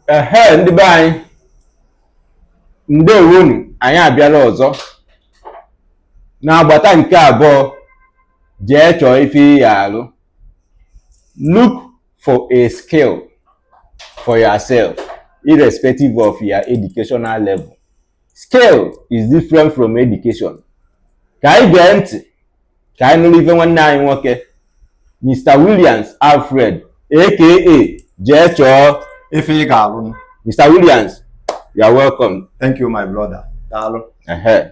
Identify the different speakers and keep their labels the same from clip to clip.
Speaker 1: ehe ndị be anyị ndewonu anyị abịala ọzọ n'agbata nke abụọ jee chọọ ife ị ya-alụ look for a skill for yourself irrespective of your educational level Skill is different from education. Ka anyị gee ntị ka anyị nụrụ ife nwanne anyị nwoke Mr. Williams Alfred aka jee chọọ ife ị ga-alụ
Speaker 2: Mr. Williams
Speaker 1: you are welcome. Thank you my
Speaker 2: brother. Daalụ.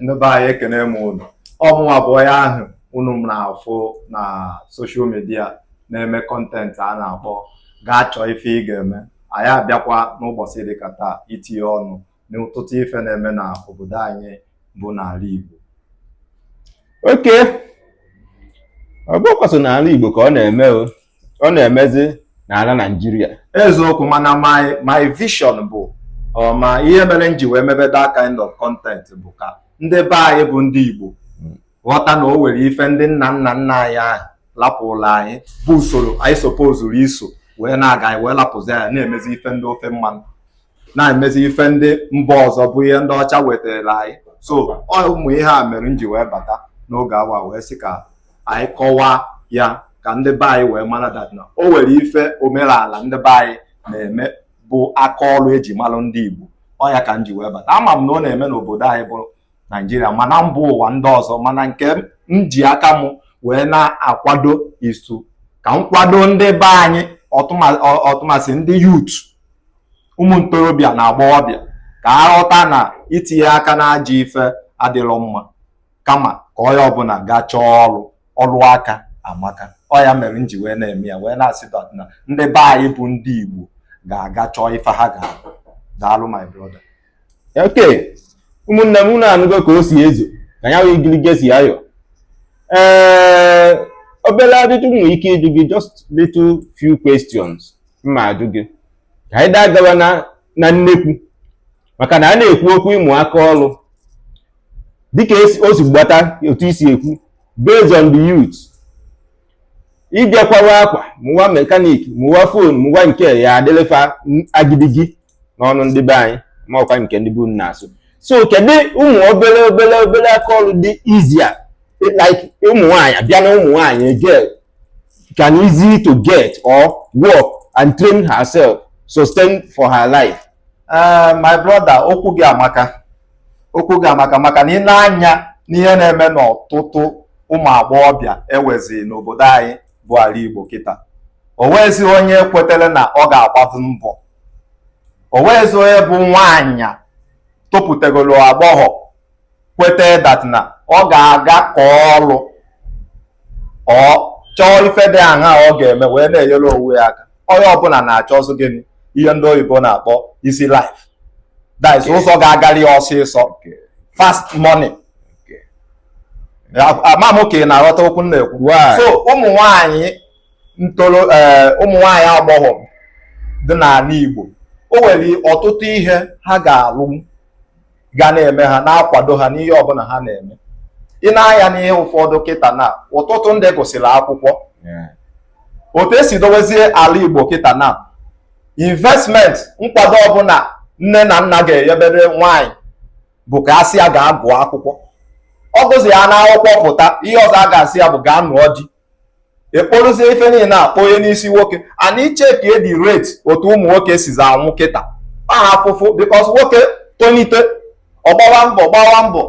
Speaker 2: Ndị be anyị ekene m unu. Ọ mụnwa bụ onye ahụ unu na-afụ na social media na-eme content a na-akpọ gaa chọọ ife ị ga-eme anyị abịakwa n'ụbọchị dịka taa itinye ọnụ n'ọtụtụ ife na-eme na obodo anyị bụ n'ala
Speaker 1: Igbo okay ọ bụkwa sọ n'ala Igbo ka ọ na-eme o ọ na-emezi n'ala Naịjirịa eziokwu mana
Speaker 2: my my vision bụ ma ihe mere m ji wee mebe that kind of content bụ ka ndị be anyị bụ ndị Igbo ghọta na o nwere ife ndị nna nna nna anyị ha lapụlụ anyị bụ usoro anyị supposuru iso wee na-aga anyị wee lapụzi ya na-emezi ife ndị ofe mmanụ na-emezi ife ndị mba ọzọ bụ ihe ndị ọcha wetara anyị so ụmụ ihe a mere m ji wee bata n'oge awa wee sị ka anyị kọwaa ya ka ndị be anyị wee mara that na o nwere ife omenala ndị be anyị na-eme bụ aka ọrụ eji malụ ndị Igbo ọ ya ka m ji wee bata ama m na ọ na-eme n'obodo anyị bụ naijiria ma na mba ụwa ndị ọzọ mana nke m ji aka m wee na-akwado isu ka m kwado ndị be anyị ọtụmasị ndị youth ụmụ ntorobịa na agbọghọbịa ka ha ghọta na itinye aka n'ajọ ife adịrọ mma kama ka onye ọbụla gaa chọọ ọrụ ọrụ aka amaka ọ ya mere m ji wee na-eme ya wee na-asị na ndị be anyị bụ ndị Igbo ga-aga chọọ ife ha ga-alụ daalụ my brother
Speaker 1: okay ụmụnne m unu anụgo ka o si ezo ka ya wee igirigi si ayọ ee obere ajụjụ m nwere ike ịjụ gị just little few questions m ma-ajụ gị ka anyị na-agawa na na nnekwu maka na a na-ekwu okwu ịmụ aka ọrụ dịka o si gbata otu i si ekwu based on the youth ị bịa kwawa akwa mụwa mechanic mụwa phone mụwa nke ya adịlị fa agidigi n'ọnụ ndị be anyị ma ọ kwa nke ndị be unu na-asụ so kedu ụmụ obere obere obere aka ọrụ dị easier like ụmụ nwaanyị a bịa na ụmụ nwaanyị girl can easy to get or work and train herself sustain for her life uh,
Speaker 2: my brother okwu gị amaka okwu gị amaka maka na ị nee anya n'ihe na-eme n'ọtụtụ ụmụ agbọghọbịa e nwezi n'obodo anyị bụ ala Igbo kịta o nweghịzi onye kwetere na ọ ga-agbazi mbọ o nwezi onye bụ nwaanyị topụtagolo agbọghọ kweta that na ọ ga-aga aka ọrụ ọ chọọ ife dị aṅa ọ ga-eme wee na-enyere onwe ya aka onye ọbụla na-achọzi gịnị ihe ndị oyibo na-akpọ easy life that is ụzọ ga-agali ya ọsịsọ fast money ama m ka ị na-aghọta okwu m na-ekwu so ụmụ nwanyị ntoro ee eh, ụmụ nwaanyị agbọghọ dị n'ala Igbo o nwere ọtụtụ ihe ha ga-alụ ga na-eme ha na-akwado ha n'ihe ọbụla ha na-eme i nee anya n'ihe ụfọdụ kịta na ọtụtụ ndị gụsịrị akwụkwọ otu e si dowezie ala Igbo kịta na investment nkwado ọbụla nne na nna ga-enyebere nwanyị bụ ka a sị ya gaa gụọ akwụkwọ ọ gụzi ya n'akwụkwọ pụta ihe ọzọ a ga-asị ya bụ gaa nụọ di e kporozie ife niile kponye n'isi nwoke and i checkie the rate otu ụmụ nwoke sizi anwụ kịta aha afụfụ because nwoke tonite ọ gbawa mbọ gbawa mbọ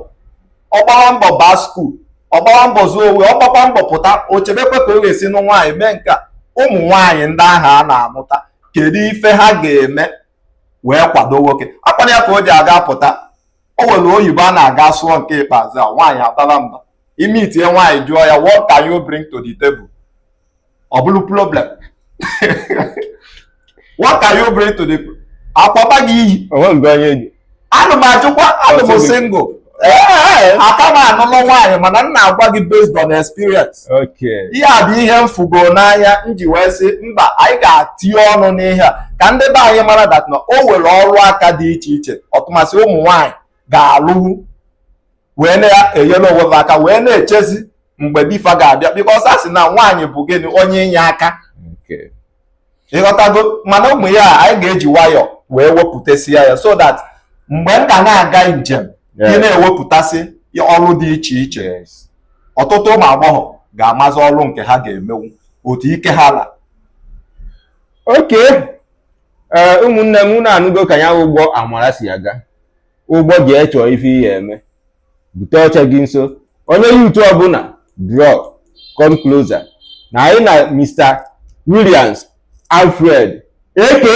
Speaker 2: ọ gbawa mbọ baa school ọ gbawa mbọ zụọ onwe ọ gbakwa mbọ pụta o chebekwe ka ọ ga-esi nụọ nwaanyị mee nke a ụmụ nwaanyị ndị ahụ a na-amụta kedu ife ha ga-eme wee kwado nwoke akwana ya ka o ji aga pụta o nwere oyibo a na-aga sụọ nke ikpeazụ a nwaanyị atala mba i meetie nwaanyị jụọ ya what can you bring to the table ọ bụrụ problem what can you bring to the a kpọba gị iyi ana m ajụkwa anọ m single aka m anụlọ nwaanyị mana m na-agwa gị based on experience ihe a bụ ihe m fụgo n'anya m ji wee sị mba anyị ga-atinye ọnụ n'ihe a ka ndị be anyị mara that na o nwere ọrụ aka dị iche iche ọtụmasị ụmụ nwaanyị ga-alụwu wee na-enyere onwe ha aka wee na-echezi mgbe di fa ga-abịa because a sị na nwaanyị bụ gịnị onye inye aka ịghọtago mana ọ bụ ihe anyị ga-eji nwayọọ wee wepụtasịa ya so that mgbe m ga na-aga njem ị na-ewepụtasị ọrụ dị iche iche ọtụtụ ụmụ agbọghọ ga-amazi ọrụ nke ha ga-emewu otu ike ha la
Speaker 1: okay ee ụmụnne m unu anụgo ka ya ụgbọ amara si aga ụgbọ jee chọọ ife ị ga-eme bute oche gị nso onye youth ọbụla draw come closer na anyị na mr williams alfred aka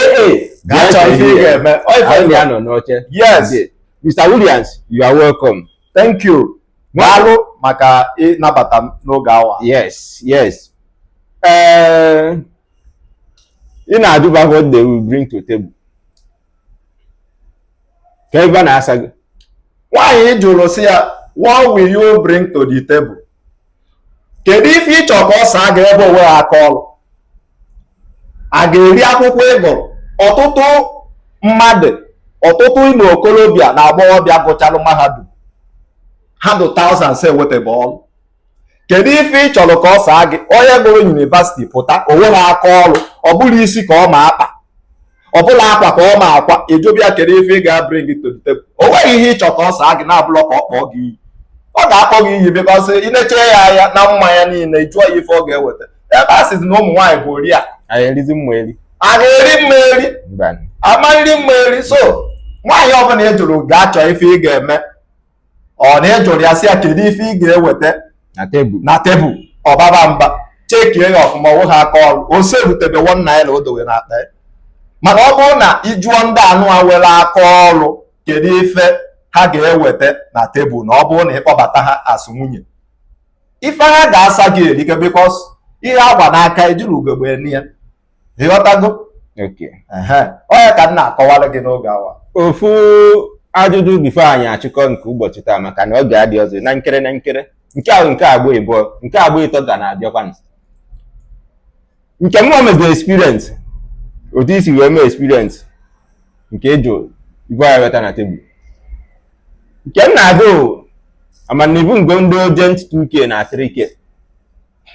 Speaker 1: Gaa chọọ ife
Speaker 2: ị ga-eme. Ọ ife anyị ị ga- na-anọ
Speaker 1: n'oche
Speaker 2: Yes. Today. mr
Speaker 1: williams you are welcome thank you
Speaker 2: daalụ maka ịnabata m n'oge awa yes yes
Speaker 1: ee ị na-ajụba what they will bring to table ka ebe na-asa gị nwaanyị
Speaker 2: jụrụ sị ya what will you bring to the table kedu ife ị chọ ka ọ saa gị ebe o nweghị aka ọrụ a ga-eri akwụkwọ ị gụrụ ọtụtụ mmadụ ọtụtụ ụmụ okorobịa na agbọghọbịa gụchalụ mahadum ha dụ thousands enwetebe ọrụ kedu ife ị chọrọ ka ọ saa gị onye gụrụ yunivasiti pụta o nweghị aka ọrụ ọ bụlọ isi ka ọ ma akpa ọ bụlọ akwa ka ọ ma akwa ejobịa kedu ife ị ga-abring to the table o nweghị ihe ị chọ ka ọ saa gị na-abụlọ ka ọ kpọọ gị iyi ọ ga-akpọ gị iyi because i lecha ya anya na mma ya niile jụọ ya ife ọ ga-eweta ebe a sịzi na ụmụ nwaanyị bụ oriakụ anyị erizi mma
Speaker 1: eri a na-eri mma
Speaker 2: eri mba a ma-eri mma eri so nwaanyị ọbụla ị jụrụ ga-achọ ife ị ga-eme ọ na ị jụrụ ya sị ya kedu ife ị ga-eweta na tebụl ọ baba mba chekie ya ọfụma o nweghị aka ọrụ o serutebe one naira o dowe na akpa mana ọ bụrụ na ị jụọ ndị anụa nwere aka ọrụ kedu ife ha ga-eweta na tebụl na ọ bụrụ na ị kpọbata ha as nwunye ife ha ga-asa gị erika because ihe a gba n'aka ejirọ ugegbe ene ya ị ghọtago ọ ihe ka m na-akọwara gị n'oge a wa
Speaker 1: ofu ajụjụ before anyị achịkọ nke ụbọchị taa maka na oge adịrọzi na nkere na nkere nke ahụ nke agba ịbụọ nke agba ịtọ ga na-abịakwa nke mụọ mego experience otu isi wee mee experience nke ịjụ ibu anyị weta na tebụl nke m na-agụ amanibu ngo ndị urgent 2k na 3k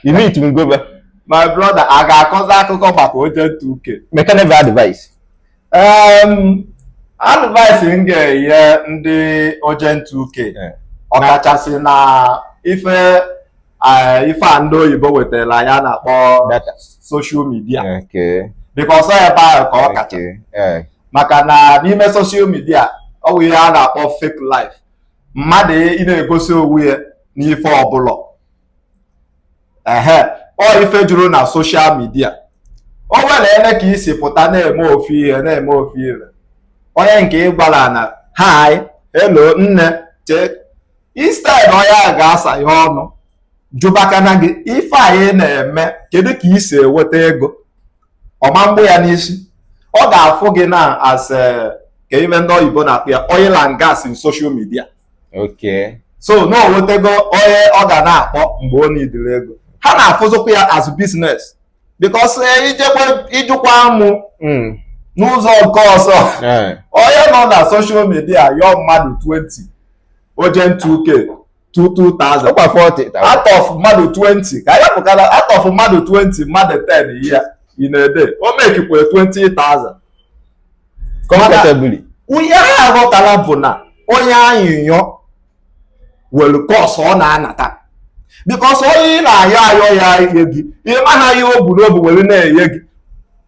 Speaker 1: You need to go back. My
Speaker 2: brother, a ga-akọzi akụkọ maka urgent two K. Me ka e
Speaker 1: nyeve advice.
Speaker 2: Um, advice m ga-enye ndị urgent two K. Ọkachasị na ife uh, ife a ndị oyibo wetara anyị a na-akpọ social media because ọ ebe ahụ ka ọ kacha eh. maka na n'ime social media ọ bụ ihe a na-akpọ fake life mmadụ ịna-egosi onwe ya n'ife ọ bụlọ ehe ọ ife juru na social media onye na-ene ka i si pụta na-eme ofu ihe na-eme ofu ihe onye nke ị gwara na hi hello nne chee instead onye a ga-asa ya ọnụ jụbakana gị ife anyị na-eme kedu ka i si eweta ego ọ ma mgbụ ya n'isi ọ ga-afụ gị na as eh, ka ife ndị oyibo na-akpọ ya oil and gas in social media so na o nwetago onye ọ ga na-akpọ mgbe ọ nidiri ego ha na-afụzịkwa ya as business because eh, ijekwa ịjụkwa mụ hmm. n'ụzọ nke ọzọ eh. onye nọ na social media yọọ mmadụ 20 urgent 2k 2000 out of mmadụ 20 ka ya pụtara out of mmadụ 20 mmadụ 10 ya in a day o mekikwa 20,000
Speaker 1: comfortably ihe ha aghọtarọ
Speaker 2: bụ na onye ayịyọ nwere curse ọ na-anata because onye ị na-ayọ ayọ ya nye gị ịmaha ihe o bu n'obu were na-enye gị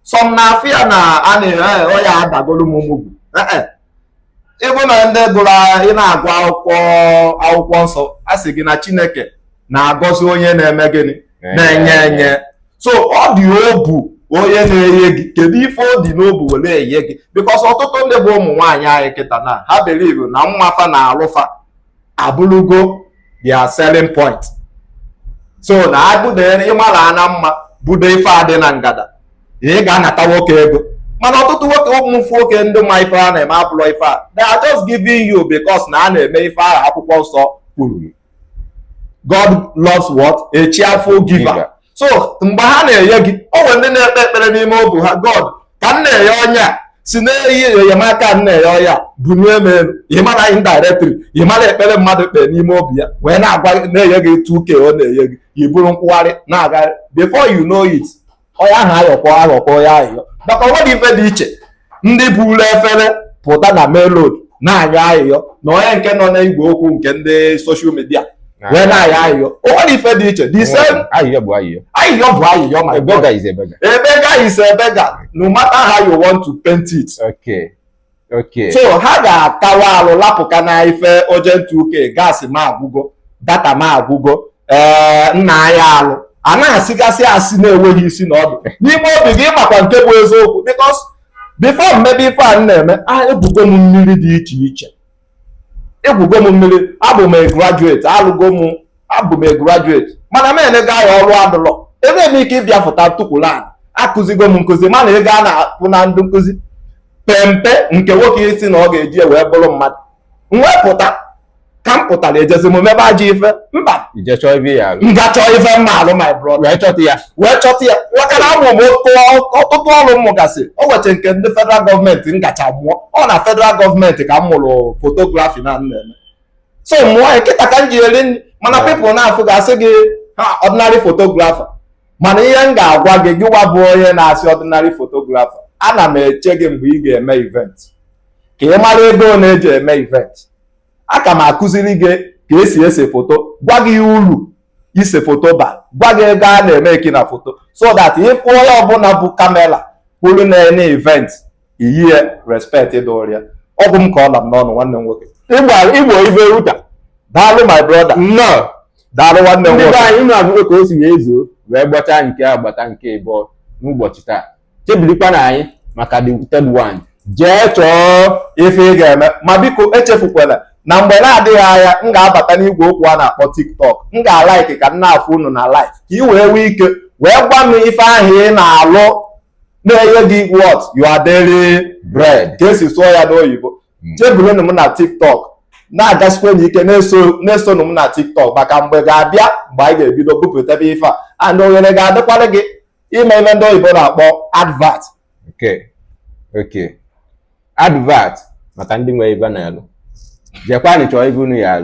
Speaker 2: some na afọ ya na a na-ere ọya adagolu m ụmụgwu ịbụ na ndị gụrụ ị na-agụ akwụkwọ akwụkwọ nsọ a sị gị na chineke na-agọzi onye na-eme gịnị na-enye enye so ọ dị obu onye na-enye gị kedu ife ọ dị n'obu were enye gị because ọtụtụ ndị bụ ụmụ nwaanyị anyị kịta na ha believe na mma fa na alụ fa abụrụgo their selling point so na abụ na ịmarana mma budo ife adị na ngada ị ga-anata nwoke ego mana ọtụtụ nwoke ụmụfụ nwoke ndị ma ife a na-eme abụlọ ife a they are just giving you because na ha na-eme ife ahụ akwụkwọ nsọ kwuru God loves what? A cheerful giver. so mgbe ha na-enye gị o nwere ndị na-ekpe ekpere n'ime obi ha God ka m na-enye onye a si n'enye enyemaka m na-enye onye a bunye m elu ịmara indirectly ịmara ekpere mmadụ kpee n'ime obi ya wee na-agwa na-enye gị 2k ọ na-enye gị iburu nkwụgharị na-agagharị before you know it onye ahụ aghọk aghọkwa onye ayịyọ maka onwerọ ife dị iche ndị buru efere pụta na main road na-ayọ ayịyọ na onye nke nọ na igwe okwu nke ndị social media wee na-ayọ ayịyọ onwerọ ife dị iche the same ayịyọ bụ ayịyọ
Speaker 1: ayịyọ bụ ayịyọ
Speaker 2: ma a beggar is a
Speaker 1: beggar a beggar is
Speaker 2: a beggar no matter how you want to paint it okay
Speaker 1: so ha
Speaker 2: ga-akawa alụ lapụka na ife urgent 2k gas m agwụgo data m agwụgo ee eh, nna anyị alụ a na-asịgasị asị na-enweghị isi na ọdụ n'ime obi gị ịmakwa nke bụ eziokwu because before mmebe ife a m na-eme a egwugo m mmiri dị iche iche egwugo m mmiri abụ m graduate alụgo m abụ m graduate mana m enego ya ọrụ adụlọ ebe m ike ịbịa fụta tukwula akụzigo m nkụzi mana ego a na-akwụ na ndị nkụzi pe mpe nke nwoke ị sị na ọ ga-eji wee bụrụ mmadụ m wee pụta ka m pụtara ejezi m mebe ajọ ife mba
Speaker 1: m gaa chọọ ife m
Speaker 2: ma-alụ my brother wee chọta ya maka na amụ m ọtụtụ ọrụ m mụgasị o weche nke ndị federal gọọmenti m gacha mụọ ọ na federal gọọmenti ka m mụrụ fotografi na m na-eme so mụọ ya kịta ka m ji eri nri mana pipụl na-afụ ga-asị gị ha ọdịnarị fotografa mana ihe m ga-agwa gị gịwa bụ onye na-asị ọdịnarị fotografa ana m eche gị mgbe ị ga-eme event ka ị mara ego a na-eji eme event aga m akụziri gị ka esi ese foto gwa gị ihe uru ise foto ba gwa gị ego a na-emeeki na foto so that ị fụ onye ọbụla bu kamera kwụrụ na-ene event i nye ya respect dịịrị ya ọ bụ m ka ọ la m n'ọnụ nwanne m nwoke igbo
Speaker 1: ibe ruta daalụ
Speaker 2: my brother nnọọ
Speaker 1: daalụ nwanne m
Speaker 2: nwoke ndị be anyị unu
Speaker 1: afụgo ka
Speaker 2: o
Speaker 1: si
Speaker 2: wee
Speaker 1: zuo wee gbachaa n'agbata nke ịbụọ n'ụbọchị taa chebirikwanụ anyị maka the third one jee
Speaker 2: chọọ ife ị ga-eme ma biko echefukwala na mgbe na-adịghị anya m ga-abata n'igwe okwu a na-akpọ tiktok m ga-alaiki ka m na-afụ unu na live ka ị wee nwee ike wee gwa m ife ahụ ị na-alụ na-enye gị what your daily bread ka esi sụọ ya n'oyibo hmm. cheburunu m na tiktok na-agasikwanụ ike na-esonụ m na tiktok maka mgbe ga-abịa mgbe anyị ga-ebido bupụtebe ife a and ohere ga-adịkwara gị ime ife ndị oyibo na-akpọ advert
Speaker 1: okay advert maka ndị nwe ife na-alụ jekwanị chọọ ife unu ya-alụ